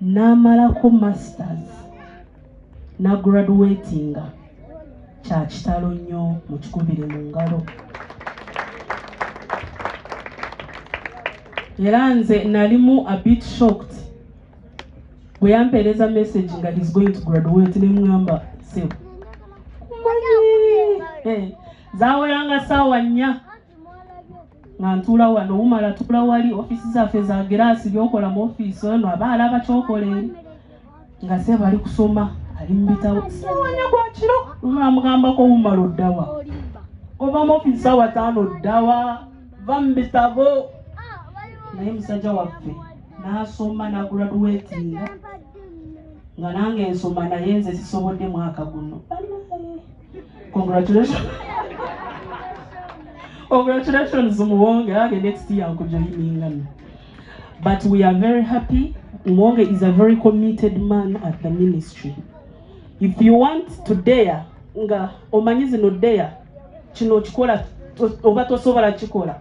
n'amalako masters nagraduatinga kya kitalo nnyo mu kikubiri mu ngalo era nze nalimu a bit shocked bwe yampeereza message nga he's going to graduate ne mugamba sebo eh, zaweranga saawa nnya nga ntuula wano wumala tuula wali ofiisi zaffe za giraasi byokola mu ofiisi ono aba alaba kyokola eri nga seba ali kusoma ali mu bitabo siwanya gwa kiro omamugambako wumala oddawa ova mu ofiisi sawa taano oddawa va mu bitabo naye musajja waffe nasoma naguraduwetinga nga nange nsoma naye nze sisobodde mwaka guno congratulations congratulations muwonge age next year nkujoiningana but we are very happy muwonge is a very committed man at the ministry if you want to dare nga omanyi zino dare kino okikola oba tosobola kikola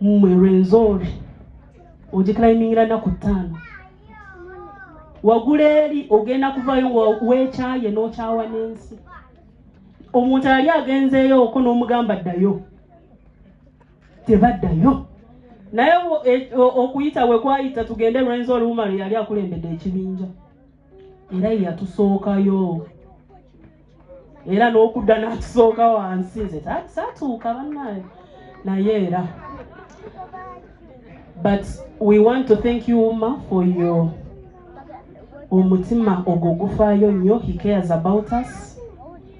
mmwe rwenzori ogikilaimingira naku ttaano wagula eri ogenda kuvayo nga wekyaye nokyawa n'ensi omuntu ali agenzeeyo oko n'omugamba ddayo tebaddayo naye e, okuyita wekwayita tugende lwenzi oluwumalo yali akulembedde ekibinja era yeyatusookayo era n'okudda n'atusooka wansi nze saatuuka bannaye naye era but we want to thank you uma for your omutima ogwo gufaayo nnyo he cares about us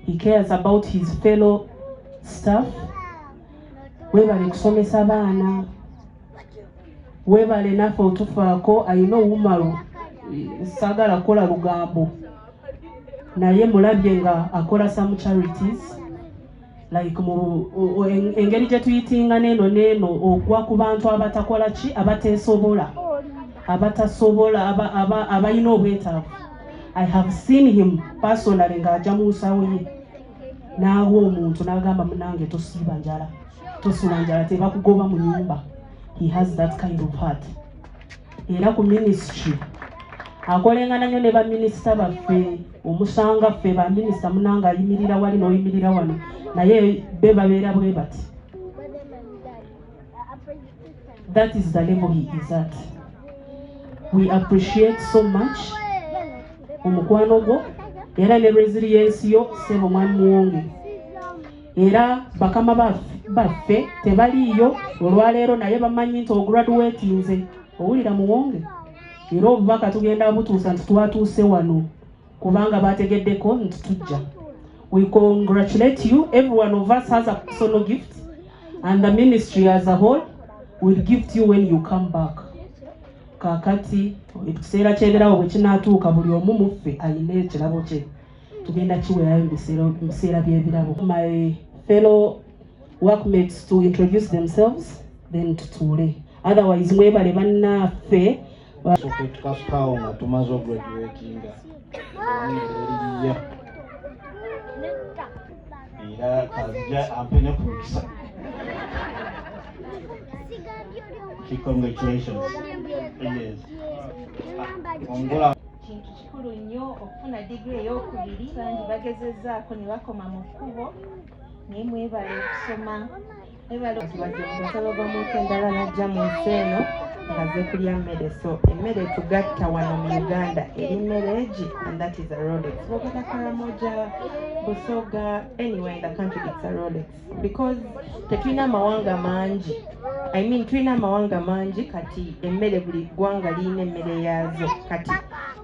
he cares about his fellow staff webale kusomesa baana webale naffe otufaako ayina owumalu sagala kukola lugambo naye mulabye nga akola some charities like mu engeri gye tuyitinga neeno neeno ogwa ku bantu abatakola ki abateesobola abatasobola abalina obwetaavu i have seen him personally ng'aja mu nsawo ye n'awa omuntu n'agamba munange tosiiba njala tosula njala tebakugoba mu nyumba he has that kind of heart era ku minisitry akolengana nnyo ne baminisita baffe omusanga ffe baminisita munanga ayimirira wali n'oyimirira wano naye be babeera bwe bati that is the level he is at we appreciate so much omukwano gwo era ne resiliensi yo sebo mwami muwonge era bakama baffe tebaliiyo olwaleero naye bamanyi nti ograduatinze owulira muwonge era obubaka tugenda butuusa nti twatuuse wano kubanga bategeddeko nti tujja we congratulate you every one of us has a personal gift and the ministry as a whole will gift you when you come back kakati ekiseera kyeberawo bwekinatuuka buli omu muffe ayina ekirabo kye tugenda kiwerayo mu biseera by'ebirabo my fellow workmates to introduce themselves then tutuule otherwise mwebale bannaffe tukapaawo nga tumaze ograduatinga eriya era kazija ampe ne ku mikisa congratulations yes. kikulu nnyo okufuna digiri ey'okubiri bangi bagezezzaako ne bakoma mu kkubo naye mwebale okusoma mwebaleomusolo gw'omuntu endala najja mu nsi eno nga zekulya mmere so emmere etugatta wano mu uganda eri mmere egi and that is a rolex bogenda karamoja busoga anywhere in the country it's a rolex because tetulina amawanga mangi i mean tulina amawanga mangi kati emmere buli ggwanga lirina emmere yaazo kati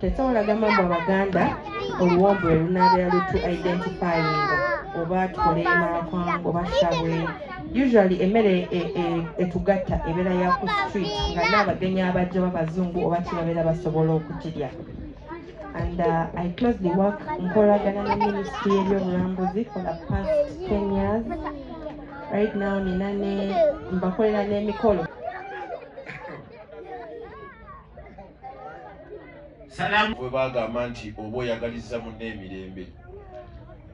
tesobola gamba mbu abaganda oluwombo lwe lunabeera lutu identifyinga oba tukole emakwango oba sabwe usually emmere e, e, etugatta ebeera ya ku street nga naabagenyi abajja babazungu oba kibabeera basobola okukirya and uh, I closely work nkolagana ne ministry y'ebyobulambuzi for the past 10 years right now nina ne mbakolera n'emikolo bwe bagamba nti oba oyagaliza munna emirembe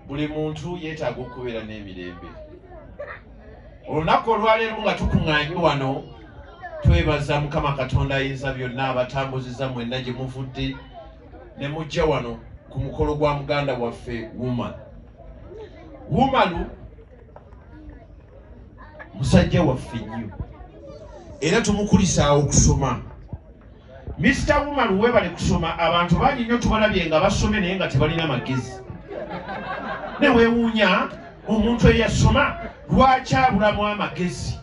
buli muntu yeetaaga okubeera n'emirembe olunaku olwaleero nga tukuŋŋaanye wano twebaza mukama katonda ayinza byonna abatambuziza mwenna gye muvudde ne mujja wano ku mukolo gwa muganda waffe woman womalu musajja waffe nnyo era tumukulisaawo okusoma Mr. Woman webale kusoma abantu bangi nnyo tubalabye nga basome naye nga tebalina magezi ne wewuunya omuntu eyasoma lwaki abulamu amagezi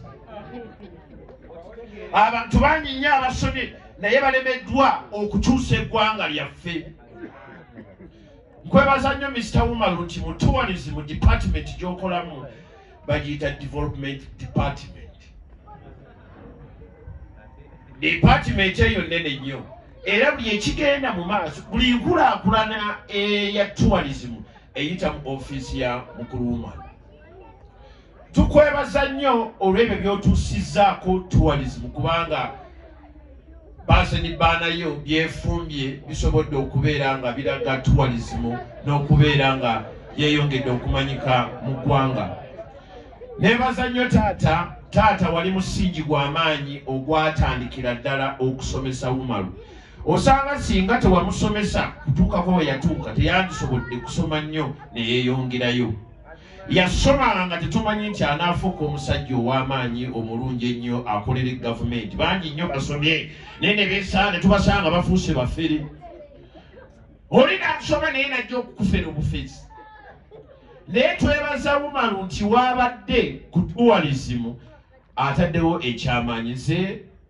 abantu bangi nnyo abasomye naye balemeddwa okukyusa eggwanga lyaffe nkwebaza nnyo Mr. Woman nti mu tourism department gyokolamu bagiyita development department department eyo nnene nnyo era buli ekigenda mu maaso buli nkulaakulana eya tourism eyita mu ofiisi ya mukulu wumani tukwebaza nnyo olw'ebyo by'otuusizzaako tourism kubanga baase ni baanayo byefumbye bisobodde okubeera nga biraga tuwalizimu n'okubeera nga yeyongedde okumanyika mu ggwanga nebaza nnyo taata taata wali musingi gw'amaanyi ogwatandikira ddala okusomesa umaru osanga singa tewamusomesa kutuukako we yatuuka teyandisobodde kusoma nnyo ne yeeyongerayo yasomanga nga tetumanyi nti anaafuuka omusajja ow'amaanyi omulungi ennyo akolere gavumenti bangi nnyo basomye naye ne beesaa ne tubasanga bafuuse bafere oli nakusoma naye najja okukufera obufezi naye twebaza wumalu nti waabadde ku duwalizimu ataddewo ekyamaanyi ze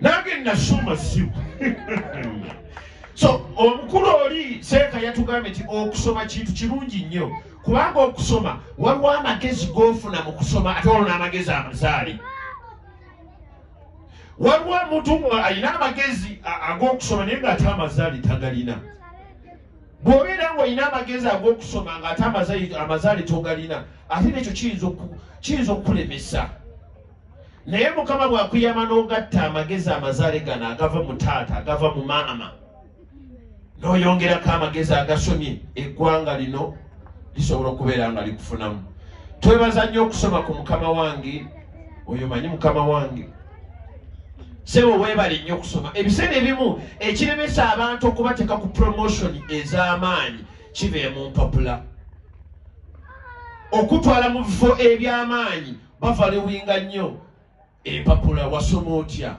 nange nasoma siku so omukulu oli seeka yatugambye nti okusoma kintu kirungi nnyo kubanga okusoma waliwo amagezi gofuna mu kusoma ate waliwo n'amagezi amazaali waliwo omuntu alina amagezi ag'okusoma naye ng'ate amazaali tagalina bw'obeera ng'olina amagezi ag'okusoma ng'ate amazaali togalina ate nekyo kiyinza okukulemesa naye mukama bwakuyama n'ogatta amagezi amazaale gano agava mu taata agava mu maama n'oyongerako amagezi agasomye eggwanga lino lisobola okubeera nga likufunamu twebaza nnyo okusoma ku mukama wange oyo manyi mukama wange sebo webale nnyo okusoma ebiseera ebimu ekiremesa abantu okubateeka ku promotion ez'amaanyi kibeemu mpapula okutwala mu bifo eby'amaanyi bavaliwinga nnyo empapula wasoma otya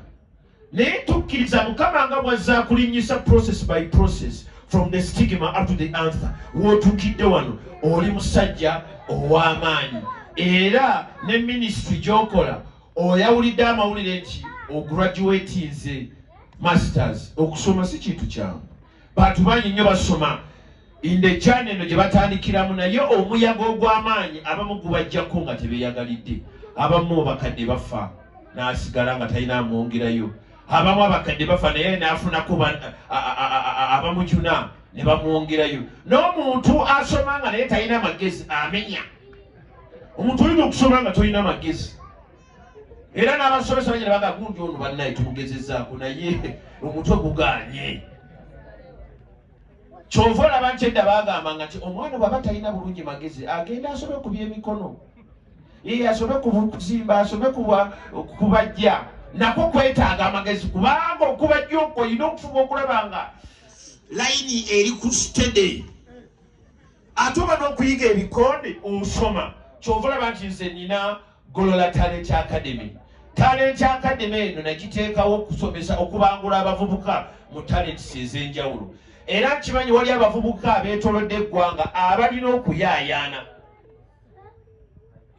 naye tukkiriza mukama nga bwazza akulinnyisa process by process from the stigma up to the anther wootuukidde wano oli musajja ow'amaanyi era ne minisitry gy'okola oyawulidde amawulire nti ograduatinze masters okusoma si kintu kyangu bantu bangi nnyo basoma indejana eno gye batandikiramu naye omuyaga ogw'amaanyi abamu gubajjako nga tebeyagalidde abamu abakadde bafa n'asigala nga talina amwongerayo abamu abakadde bafa naye n'afunako abamujuna ne bamwongerayo n'omuntu asoma nga naye talina magezi amenya omuntu olina okusoma nga tolina magezi era n'abasomesa banyina bagagundi ono bannaye tumugezezaako naye omutwe guganye kyova olaba nti edda bagamba nga ti omwana bwaba talina bulungi magezi agenda asobe ku byemikono ee asobe kuzimba asobe kubajja nako kwetaaga amagezi kubanga okubajja okwo olina okufuba okulaba nga layini eri ku stede ate oba n'okuyiga ebikonde osoma kyova olaba nti nze nina Golola Talent Academy. Talent Academy eno nagiteekawo okusomesa okubangula abavubuka mu talents ez'enjawulo era nkimanyi wali abavubuka abeetolodde eggwanga abalina okuyaayaana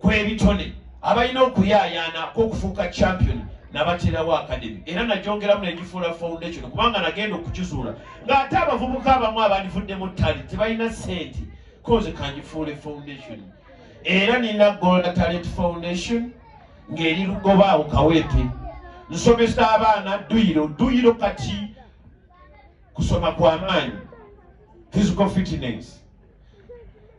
kw'ebitone abalina okuyaayaana kw'okufuuka champion nabaterawo academy era nagyongeramu negifuula foundation kubanga nagenda okukizuula ng'ate abavubuka abamu abandivudde mu tali tebalina sente koze kangifuule foundation era nina gola talent foundation ng'eri lugoba awo kawete nsomesa abaana dduyiro dduyiro kati kusoma kwa maanyi physical fitness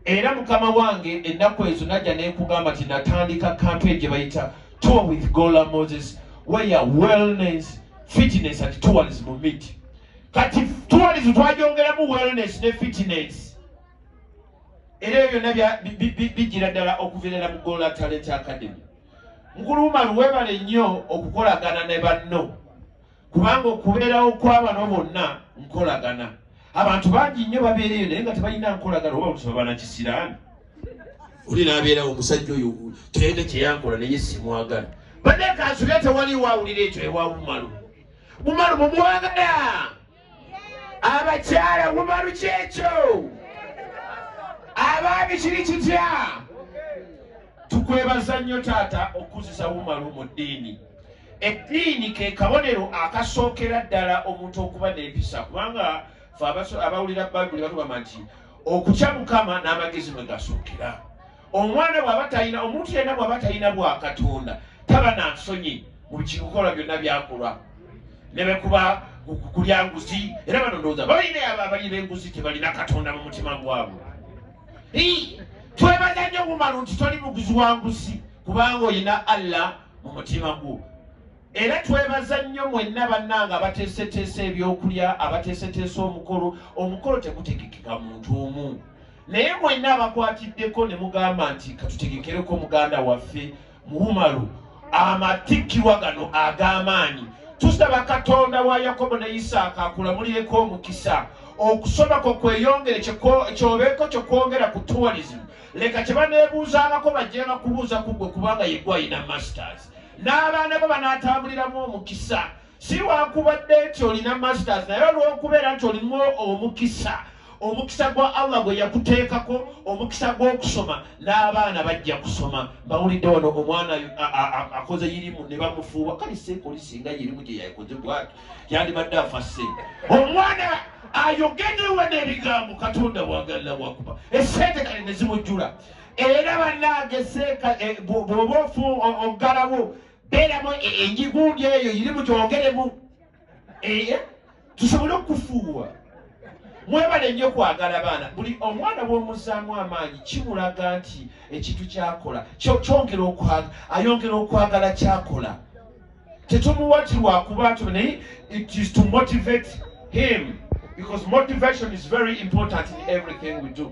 era mukama wange ennaku ezo najja nekugamba nti natandika kampe gye bayita tour with gola moses where wellness fitness and tourism meet kati tourism twagyongeramu wellness ne fitness era ebyo byonna bijjira ddala okuvirala mu gola talent academy mukulu umaru webale nnyo okukolagana ne banno kubanga okubeerawo kwabano bonna nkolagana abantu bangi nnyo babeera eyo naye nga tebalina nkolagana oba luti babana kisiraani oli nabeerawo omusajja oyo tayina kyeyankola naye simwagala banne kansuga tewali wawulira ekyo ewa umaru umaru mumwagala abakyala wumalu kyekyo abaami kiri kitya tukwebaza nnyo taata okuzisa wumalu mu ddiini eddiini ke kabonero akasookera ddala omuntu okuba n'empisa kubanga fe abawulira bayibuli batugamba nti okutya mukama n'amagezi mwe gasookera omwana bwaba talina omuntu yenna bwaba talina bwa katonda taba na nsonyi mu bikikukola byonna byakulwa ne bekuba kulya nguzi era bano ndowooza balina abo abalina enguzi tebalina katonda mu mutima gwabwe twebaza nnyo bumalu nti toli muguzi wa nguzi kubanga olina allah mu mutima gwo Era twebaza nnyo mwenna bannange abateeseteesa ebyokulya, abateeseteesa omukolo. Omukolo tegutegekeka muntu omu, naye mwenna abakwatiddeko ne mugamba nti katutegekereko muganda waffe Muwumalu amatikkirwa gano ag'amaanyi. Tusaba Katonda wa Yakobo ne Isaaka akulamulireko omukisa okusoma kwo kweyongere kyobeeko kye kwongera ku tourism. Leka kye baneebuuzaangako bajjenga kubuuza ku ggwe kubanga ye gwe alina masters. n'abaana bo banaatambuliramu omukisa si wakubadde nti olina masters naye olw'okubeera nti olimu omukisa omukisa gwa allah gwe yakuteekako omukisa gw'okusoma n'abaana bajja kusoma bawulidde wano omwana akoze yirimu ne bamufuuwa kale seekoli singa yirimu gye yakoze bwati yandibadde afa sente omwana ayogedewa n'ebigambo katonda wagalila wakuba esente kale ne zimujjula Era bannange seeka eh, bw'oba ofu oggalawo beeramu e, enjigundi eyo iri mu kyongeremu eye eh, tusobole okufuuwa mwebale nnyo kwagala baana buli omwana bw'omuzzaamu amaanyi kimulaga nti ekintu kyakola kyongera okwagala ayongera okwagala kyakola tetumuwa ti lwakuba nti naye it is to motivate him because motivation is very important in everything we do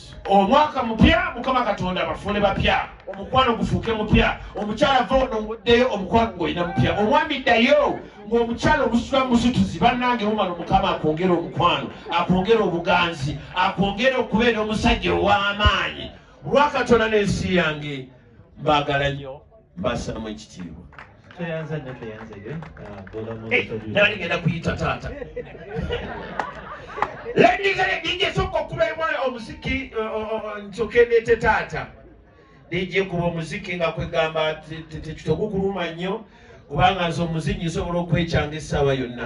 omwaka mupya mukama katonda bafuule bapya omukwano gufuuke mupya omukyala va ono nguddeyo omukwano ngolina mupya omwami ddayo ng'omukyala omusula musituzi bannange mumano mukama akwongere omukwano akwongere obuganzi akwongere okubeera omusajja ow'amaanyi lwakatonda n'ensi yange mbaagala nnyo mbassaamu ekitiibwa nali ngenda kuyita taata ladizaejinjesooka okubaibwa omuziki nsokendeete taata nejje kuba omuziki nga kwegamba tekitogukuluma nnyo kubanga nze omuzinyi nsobola okwekyanga essaawa yonna